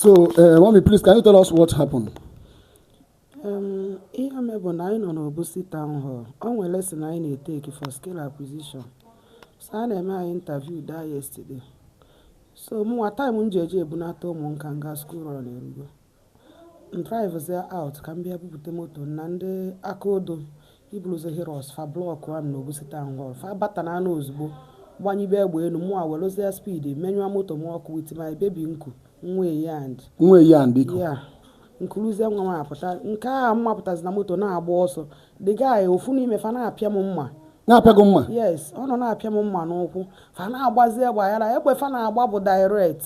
So, uh, mommy, please, can you tell us what happened? Um, ihe mere bụ na anyị nọ n'Obosi Town Hall. O nwere lesson anyị na-eteki for skill acquisition. So, a na-eme anyị interview that yesterday. So, mụnwa time m ji eje ebunata ụmụaka m na school run erugo. M drivezia out ka m bịa bupute moto m na ndị aka odo ebuluzie Hilux fa blọkụọ m na Obosi Town Hall fa bata n'ana ozugbo gbanyibe egbe enu mụwa welụzie speed menyụọ moto m ọkụ with my baby m ku one year and one year and iku ya m kuruzie nwa m apụta nke a m mapụtazi na moto na-agba ọsọ the guy ofu n'ime fa na-apịa m mma na-apịa gị mma yes ọ nọ na-apịa m mma n'ụkwụ fa na-agbazi egbe aghara egbe fa na-agba bụ direct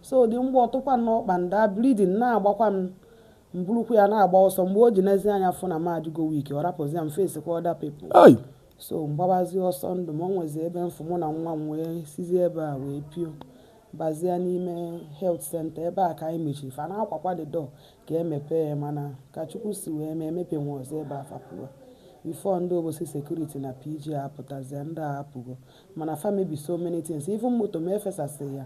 so the mgbọ tụkwa m n'ọkpa and the bleeding na-agbakwa m m burukwu ya na-agba ọsọ mgbe o ji nezie anya fụ na m adịgo weak ọ rapụzia m face kwa other people so m gbabazi ọsọ ndụ m o nwezi ebe m fụ mụ na nwa m wee sizie ebe a wee piobazie n'ime health center ebe a ka anyị mechiri fa na-akwakwa the door ka e mepee ya mana ka chukwu si wee mee emepenwurọ ụzọ ebe a fa pụwa before ndị obosi security na pg apụtazie ndị a apụgo mana fa mebi so many things even moto m efesasị ya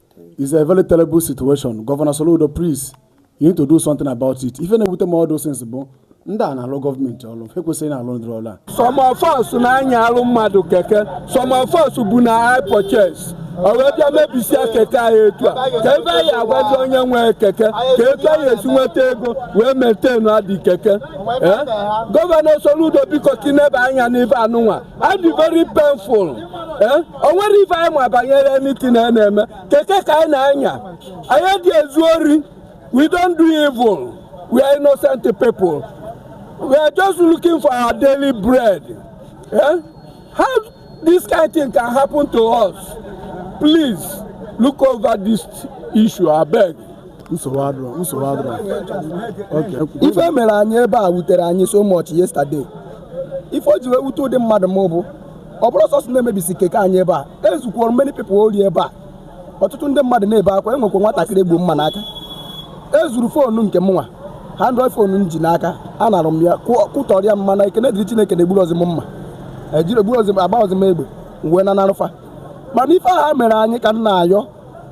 It's a very terrible situation. Governor Soludo, please, you need to do something about it. Even with all those things, bụ ndị a na-alụ gọọmenti ọrụ ha ekwesịghị na-alụ ụdịrị ọrụ a. Some of us na-anyalụ mmadụ keke, some of us bụ na hire purchase. O wee bịa mebisia keke anyị etu a kee ife anyị ga-agwazi onye nwe keke kee etu anyị ga-esi nweta ego wee maintain the keke. Eh? Gọvanọ Soludo biko ka ị neba anya n'ife anụnwa ọ dị very painful eh? o nwerọ ife anyị ma banyere anything a na-eme keke ka anyị na-anya anyị adị ezu ori we don't do evil we are innocent people we are just looking for our daily bread eh? how this kind of thing can happen to us please look over this issue abeg ife e mere anyị ebe a wutere anyị so much yesterday ife o ji wee wute ụdị mmadụ m bụ ọ bụrọ sọsọ na e mebisi keke anyị ebe a e zukwuru many people ori ebe a ọtụtụ ndị mmadụ na-ebe akwa e nwekwa nwatakịrị e gbu mma n'aka e zuru foonu nke mụnwa android foonu m ji n'aka a nara m ya kụtọrịa m mana ekene dịrị chineke na egburozi m mma ejiri egburozi m agbarọzi m egbe wee nanarụ fa mana ife a ha mere anyị ka m na-ayọ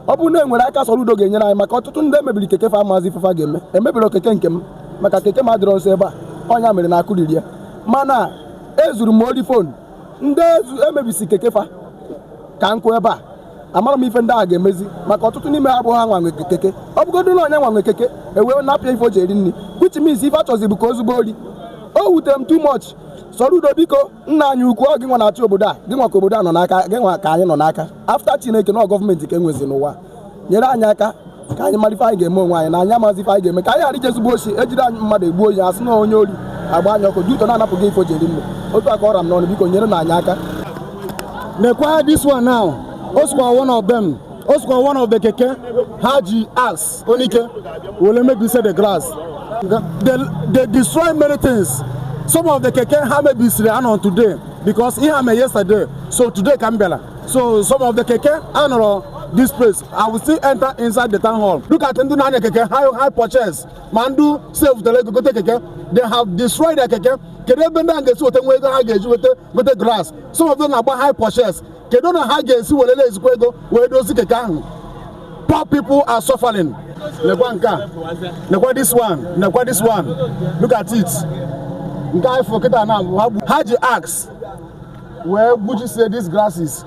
ọ bụrụ na e nwere aka Soludo ga-enyere anyị maka ọtụtụ ndị emebiri keke fa amazi ife fa ga-eme emebirọ keke nke m maka keke m adịrọ nso ebe a ọ nya mere na akụrirọ ya mana ezuru m ori phone ndị emebisi keke fa ka m kwụ ebe a amarọ m ife ndị a ga-emezi maka ọtụtụ n'ime ha bụ ha nwa nwe keke ọ bụgodu na ọ nya nwa nwe keke e wee napụ ya ife o ji eri nri which means ife achọzi bụ ka o zube ori o wutere m too much Soludo biko nna anyị ukwu ọ gị nwa na-achị obodo a gị nwa ka obodo a nọ n'aka gị nwa ka anyị nọ n'aka after chineke na gọọmenti ka enwezi n'ụwa nyere anyị aka ka anyị mara ife anyị ga-eme onwe anyị na anyị amazi ife anyị ga-eme ka anyị ghara ije zube oshi ejide anyị mmadụ egbuo anyị asị na onye ori agba anyị ọkụ due to na anapụ gị ife o ji eri nri otu a ka ọ ra m n'ọnụ biko nyerenụ anyị aka nekwa this one now o sokwa one of them o sokwa one of the keke ha ji axe Onyike wee mebisie the glass. They, they destroy many things. Some of the keke ha mebisiri anọrọ today because ihe a me yesterday so today ka m bịara so some of the keke anọrọ this place I will still enter inside the town hall look at ndị na-anya keke hire hire purchase ma ndị save tere ego gote keke they have destroyed their keke kedu ebe ndị a ga-esi weta nwa ego ha ga-eji weta gote glass some of them na-agba hire purchase kedu na ha ga-esi welele ezigbo ego wee dozi keke ahụ poor people are suffering nekwa nke a nekwa this one nekwa this one look at it nke a ị fụ kịta na ha ji axe wee gbujisie these glasses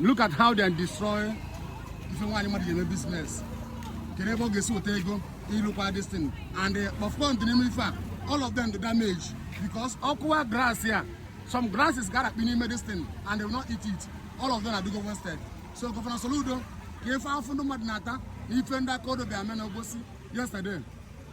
Look at how they destroy ife nwaanyị mmadụ ji eme business kedu ebe ọ ga-esi weta ego ịlụkwa this thing and eh, popcorn dị n'ime ife a all of them the damage because ọ kụwa glass ya some glasses ga-adakpu n'ime this thing and they will not eat it all of them are go wasted so gọvanọ Soludo ka ife afụfụ ndị mmadụ na-ata na ife ndị aka odo bịa mee na Obosi yesterday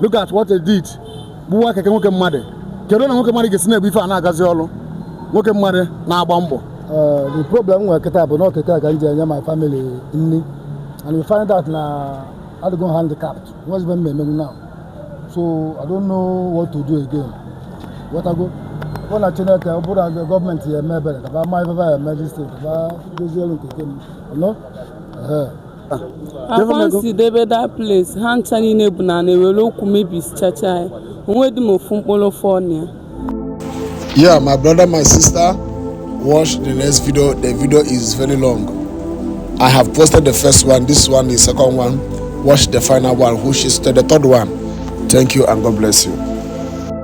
look at what they did gbuwa keke nwoke mmadụ kedu na nwoke mmadụ ga-esi na-ebu ife a na-agazi ọrụ nwoke mmadụ na-agba mbọ Eh, the problem nwere kịta bụ na ọ keke a ka m ji enye my family nri and we find out na adịgo m handicapped o nwezi ife m emenwu now so i don't know what to do again wetago ọ na chineke ọ bụrụ na gọọmenti ya-eme ebere ka ba ma ife ba ya-eme this thing ka ba dozielu nke nke m no akwa m si debe that place ha ncha niile bụ na na-ewere ọkụ mebisichacha ya onwedị m ofu mkpụrụ fọ na ya yeah my brother my sister watch the next video the video is very long i have posted the first one this one the second one watch the final one which is the third one thank you and god bless you